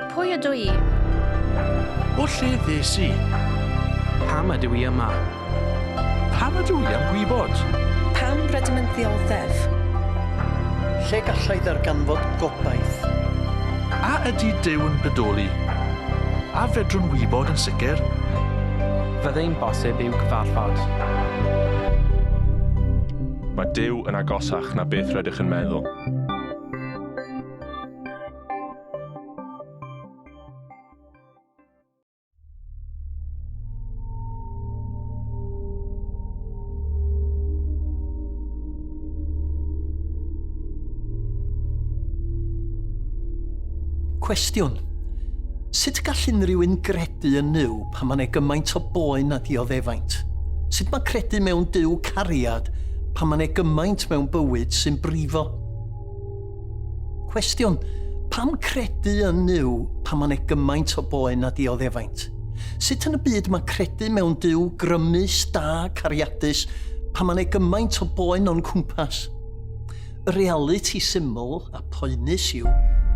Pwy ydw i? O lle ddes i? Pam ydw i yma? Pam ydw i am gwybod? Pam rydym yn ddioddef? Lle gallai ddarganfod gobaith? A ydy Duw yn bodoli? A fedrwn wybod yn sicr? Fyddai'n bosib i'w gyfarfod? Mae Duw yn agosach na beth rydych yn meddwl. Cwestiwn, Sut gall unrhyw un gredu yn Nuw? Pam ma ne gymaint o boen a dioddefaint? Sut ma credu mewn Duw cariad pan ma ne gymaint mewn bywyd sy'n brifo? Cwestiwn, pam credu yn Nuw pan ma ne gymaint o boen a dioddefaint? Sut yn y byd ma credu mewn Duw grymus, da, cariadus, pan ma ne gymaint o boen o'n cwmpas? Y realiti syml a phoenus yw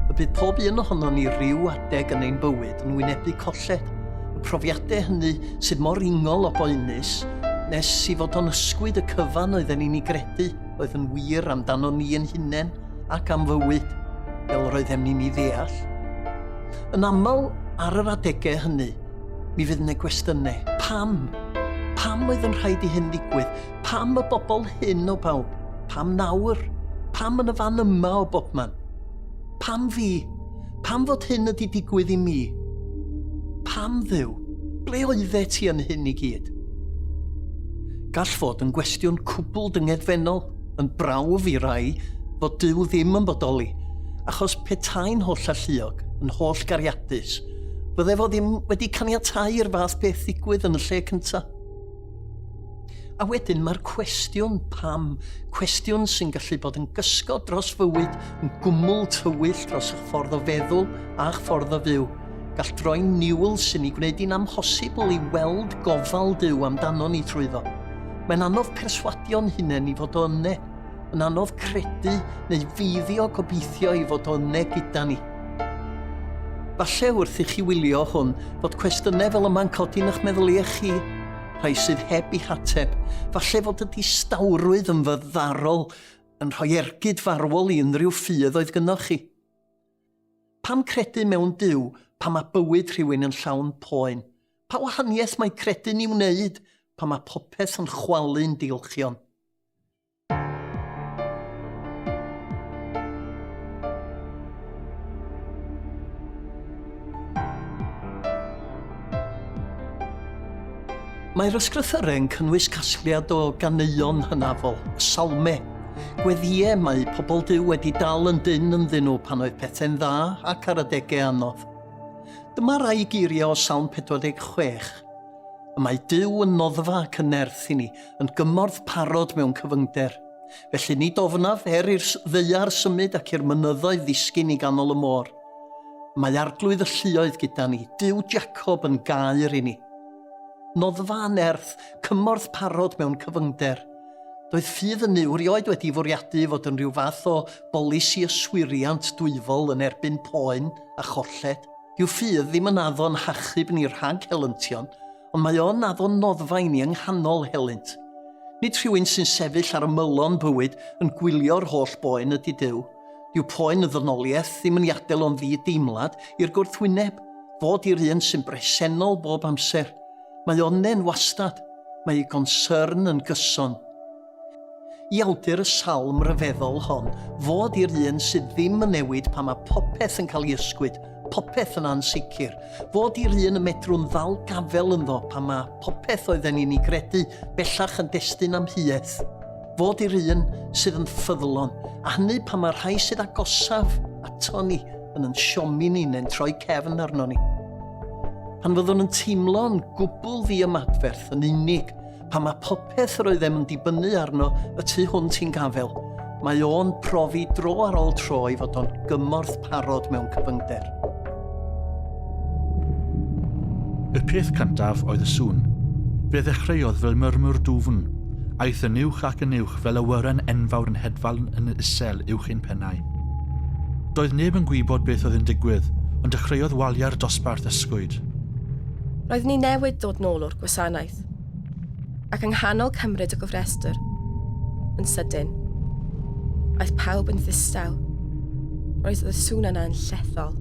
y bydd pob un ohonon ni ryw adeg yn ein bywyd yn wynebu colled. Y profiadau hynny sydd mor ingol o boenus nes i fod o'n ysgwyd y cyfan oedden ni'n ei gredu oedd yn wir amdano ni yn hunain ac am fywyd fel roeddem ni'n ei ddeall. Yn aml ar yr adegau hynny, mi fydd yna gwestiynau. Pam? Pam oedd yn rhaid i hyn ddigwydd? Pam y bobl hyn o bawb? Pam nawr? Pam yn y fan yma o bobman? Pam fi? Pam fod hyn ydi digwydd i mi? Pam ddew? Ble oedde ti yn hyn i gyd? Gall fod yn gwestiwn cwbl dyngedfennol, yn brawf i rai, fod Dyw ddim yn bodoli, achos petai'n holl alluog, yn holl gariadus, fydde fo ddim wedi caniatau i'r fath beth ddigwydd yn y lle cyntaf. A wedyn mae'r cwestiwn pam, cwestiwn sy'n gallu bod yn gysgod dros fywyd, yn gwmwl tywyll dros eich ffordd o feddwl a'ch ffordd o fyw. Gall droi'n niwl sy'n ei gwneud hi'n amhosibl i weld gofal Duw amdano ni trwyddo. Mae'n anodd perswadio'n hunain i fod o yne, yn anodd credu neu feiddio gobeithio i fod o yne gyda ni. Falle wrth i chi wylio hwn fod cwestiynau fel yma'n codi yn eich meddyliau chi, rhai sydd heb eu hateb. Falle fod y distawrwydd yn fyddarol yn rhoi ergyd farwol i unrhyw ffydd oedd gynnoch chi. Pam credu mewn Duw pan mae bywyd rhywun yn llawn poen? Pa wahaniaeth mae credu'n ei wneud pan mae popeth yn chwalu'n diolchion? Mae'r ysgrythyrau yn cynnwys casgliad o ganeuon hynafol, y salme, gweddïau mae pobl Duw wedi dal yn dyn ynddyn nhw pan oedd pethau'n dda ac ar adegau anodd. Dyma rai geiriau o Salm 46. Y mae Duw yn noddfa ac yn nerth i ni, yn gymorth parod mewn cyfyngder. Felly nid ofnaf er i'r ddeiar symud ac i'r mynyddoedd ddisgyn i ganol y môr. Mae arglwydd y lluoedd gyda ni, Duw Jacob yn gair i ni. Noddfa yn nerth, cymorth parod mewn cyfyngder. Doedd ffydd yn ni wrioed wedi fwriadu fod yn rhyw fath o bolisi yswiriant dwyfol yn erbyn poen a cholled. Dyw ffydd ddim yn addo yn hachub ni rhag helyntion, ond mae o'n addo noddfa i ni yng nghanol helynt. Nid rhywun sy'n sefyll ar ymylon bywyd yn gwylio'r holl boen ydy Duw. Dyw poen y ddynoliaeth ddim yn ei adael o'n ddi-deimlad i'r gwrthwyneb, fod i'r un sy'n bresennol bob amser. Mae onnen wastad. Mae ei gonsyrn yn gyson. I awdur y salm ryfeddol hon, fod i'r un sydd ddim yn newid pan mae popeth yn cael ei ysgwyd, popeth yn ansicr, fod i'r un y medrwn ddal gafel ynddo pan mae popeth oedden ni'n ei gredu bellach yn destun amheuaeth, fod i'r un sydd yn ffyddlon, a hynny pan mae'r rhai sydd agosaf ato ni yn yn siomi ni neu'n troi cefn arno ni. Pan fyddwn yn teimlo'n gwbl ddiymadferth yn unig, Pan mae popeth roeddem yn dibynnu arno y tu hwnt i'n gafel, mae o'n profi dro ar ôl tro i fod o'n gymorth parod mewn cyfyngder. Y peth cyntaf oedd y sŵn. Fe ddechreuodd fel murmur dwfn. Aeth yn uwch ac yn uwch fel awyren enfawr yn hedfan yn isel uwch ein pennau. Doedd neb yn gwybod beth oedd yn digwydd, ond dechreuodd waliau'r dosbarth ysgwyd. Roeddwn i newydd dod nôl o'r gwasanaeth. Ac yng nghanol cymryd y gofrestr, yn sydyn, aeth pawb yn ddistaw. Roedd y sŵn yna yn llethol.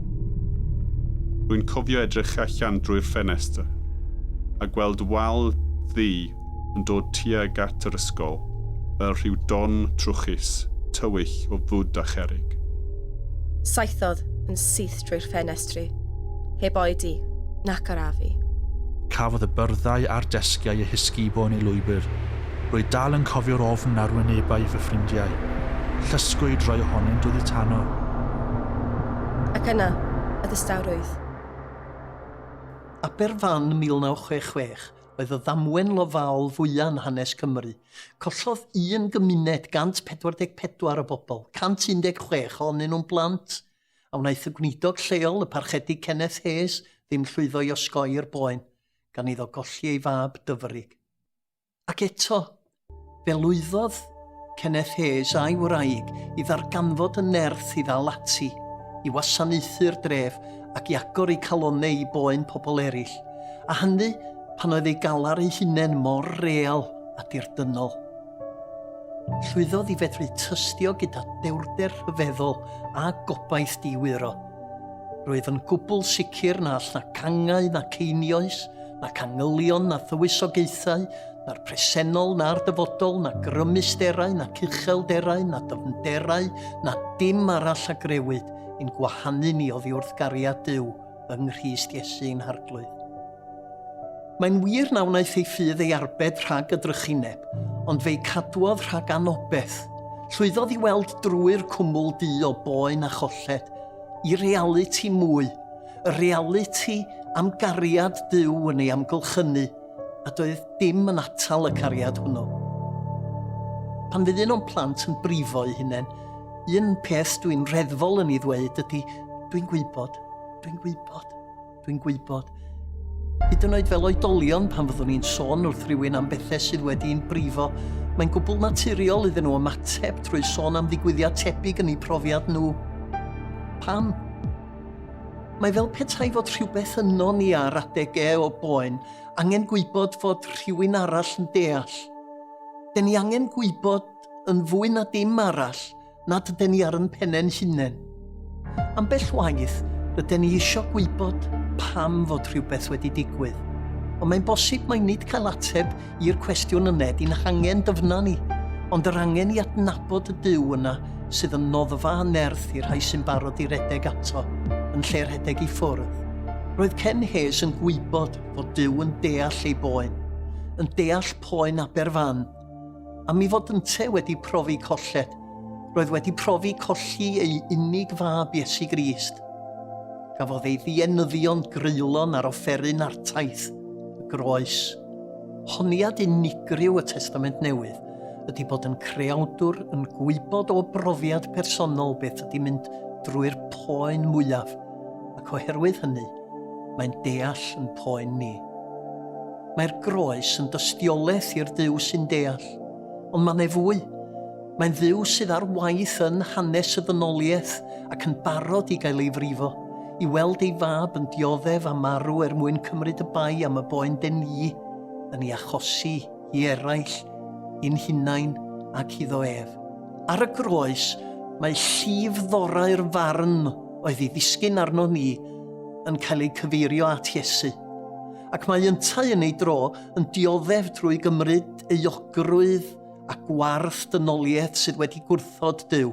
Rwy'n cofio edrych allan drwy'r ffenestr a gweld wal ddu yn dod tuag at yr ysgol fel rhyw don trwchus, tywyll o fwd a cherrig. Saethodd yn syth drwy'r ffenestr. ffenestri, heb oedi, nac arafu. Cafodd y byrddau a'r desgiau eu hysgubo yn ei lwybr. Rwy dal yn cofio'r ofn ar wynebau fy ffrindiau. Llysgwyd rhai ohonynt oddi tano. Ac yna, y distawrwydd. Aberfan 1966 oedd y ddamwen lofaol fwya yn hanes Cymru. Collodd un gymuned 144 o bobl, 116 ohonyn nhw'n blant, a wnaeth y gwneidog lleol, y Parchedig Kenneth Hayes, ddim llwyddo i osgoi'r boen, gan iddo golli ei fab dyfrig. Ac eto, fe lwyddodd Kenneth Hayes a'i wraig i ddarganfod y nerth i ddal ati, i wasanaethu'r dref ac i agor eu calonnau i boen pobl eraill, a hynny pan oedd ei galar ei hunain mor real a dirdynnol. Llwyddodd i fedru tystio gyda dewrder rhyfeddol a gobaith diwyro. Rwyf yn gwbl sicr na all na cangau na ceinioes, na cangylion na thywysogaethau, na'r presennol na'r dyfodol, na grymusterau na cuchelderau na dyfnderau na dim arall a grewyd i'n gwahanu ni oddi wrth gariad Duw. yng Nghrist Iesu yn harglwydd. Mae'n wir na wnaeth ei ffydd ei arbed rhag y drychineb, ond fe'i cadwodd rhag anobeth. Llwyddodd i weld drwy'r cwmwl du o boen a cholled, i realiti mwy, y realiti am gariad Duw yn ei amgylchynu, a doedd dim yn atal y cariad hwnnw. Pan fydd un o'n plant yn brifo'i hunain, un peth dwi'n reddfol yn ei ddweud ydy, dwi'n gwybod, dwi'n gwybod, dwi'n gwybod. Hyd yn oed fel oedolion pan fyddwn ni'n sôn wrth rywun am bethau sydd wedi'n brifo, mae'n gwbl naturiol iddyn nhw ymateb trwy sôn am ddigwyddiad tebyg yn eu profiad nhw. Pam? Mae fel petai fod rhywbeth yno ni ar adege o boen angen gwybod fod rhywun arall yn deall. Den ni angen gwybod yn fwy na dim arall nad yden ni ar yn pennen hunen. Ambell waith, ryden ni isio gwybod pam fod rhywbeth wedi digwydd. Ond mae'n bosib mai nid cael ateb i'r cwestiwn yna, di'n hangen dyfna ni, ond yr angen i adnabod y Duw yna sydd yn noddfa a nerth i'r rhai sy'n barod i redeg ato, yn lle rhedeg i ffwrdd. Roedd Ken Hayes yn gwybod fod Duw yn deall ei boen, yn deall poen Aberfan. A mi fod ynte wedi profi colled, roedd wedi profi colli ei unig fab Iesu Grist. Gafodd ei ddienyddion greulon ar offeryn artaith y groes. Honiad unigryw y Testament Newydd ydy bod yn creawdwr yn gwybod o brofiad personol beth ydy mynd drwy'r poen mwyaf, ac oherwydd hynny, mae'n deall yn poen ni. Mae'r groes yn dystiolaeth i'r Duw sy'n deall, ond mae'n ei fwy. Mae'n Dduw sydd ar waith yn hanes y ddynoliaeth ac yn barod i gael ei frifo, i weld ei fab yn dioddef a marw er mwyn cymryd y bai am y boen den ni yn ei achosi i eraill, i'n hunain ac iddo ef. Ar y groes, mae llif ddorau'r farn oedd ei ddisgyn arno ni yn cael ei cyfeirio at Iesu, ac mae yntau yn ei dro yn dioddef drwy gymryd euogrwydd a gwarth dynoliaeth sydd wedi gwrthod Duw.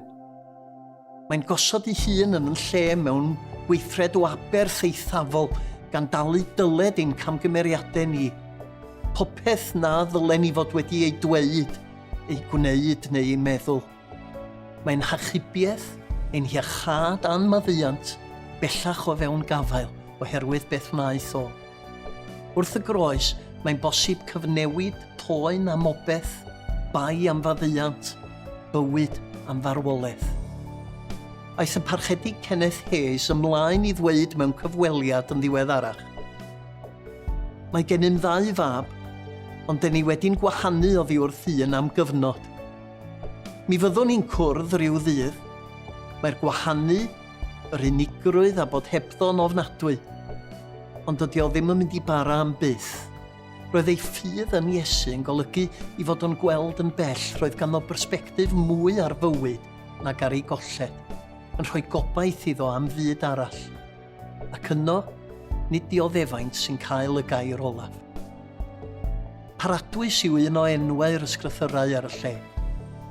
Mae'n gosod ei hun yn lle mewn gweithred o aberth eithafol gan dalu dyled ein camgymeriadau ni. Popeth na ddylen ni fod wedi ei dweud, ei gwneud neu ei meddwl. Mae'n hachubiaeth, ein hiachâd a'n maddeuant bellach o fewn gafael oherwydd beth wnaeth o. Wrth y groes, mae'n bosib cyfnewid toen am obeth, bai am faddeuant, bywyd am farwolaeth. Aeth y Parchedig Kenneth Hayes ymlaen i ddweud mewn cyfweliad yn ddiweddarach, Mae gennym ddau fab, ond den ni wedi'n gwahanu oddi wrth un am gyfnod. Mi fyddwn ni'n cwrdd rhyw ddydd. Mae'r gwahanu Yr unigrwydd a bod hebddo'n ofnadwy. Ond dydy o ddim yn mynd i bara am byth. Roedd ei ffydd yn Iesu yn golygu i fod o'n gweld yn bell roedd ganddo bersbectif mwy ar fywyd nag ar ei golled, yn rhoi gobaith iddo am fyd arall. Ac yno, nid dioddefaint sy'n cael y gair olaf. Paradwys yw un o enwau'r ysgrythyrau ar y lle.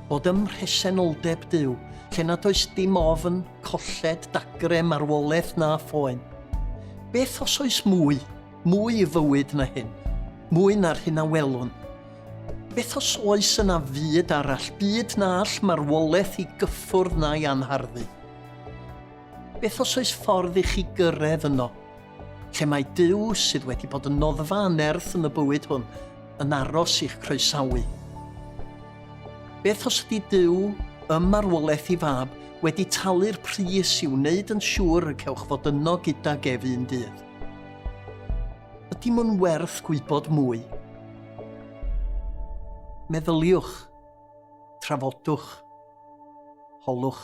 Bod ym mhresenoldeb Duw, lle nad oes dim ofn, colled, dagre, marwolaeth na phoen. Beth os oes mwy, mwy i fywyd na hyn, mwy na'r hyn a welwn? Beth os oes yna fyd arall, byd na all marwolaeth i gyffwrdd na'i anharddu? Beth os oes ffordd i chi gyrraedd yno? Themâu Duw sydd wedi bod yn noddfa anerth yn y bywyd hwn, yn aros i'ch croesawu. Beth os ydy Duw ym marwolaeth i fab wedi talu'r pris i wneud yn siŵr y cewch fod yno gyda gef un dydd? Ydy mwyn werth gwybod mwy? Meddyliwch, trafodwch, holwch.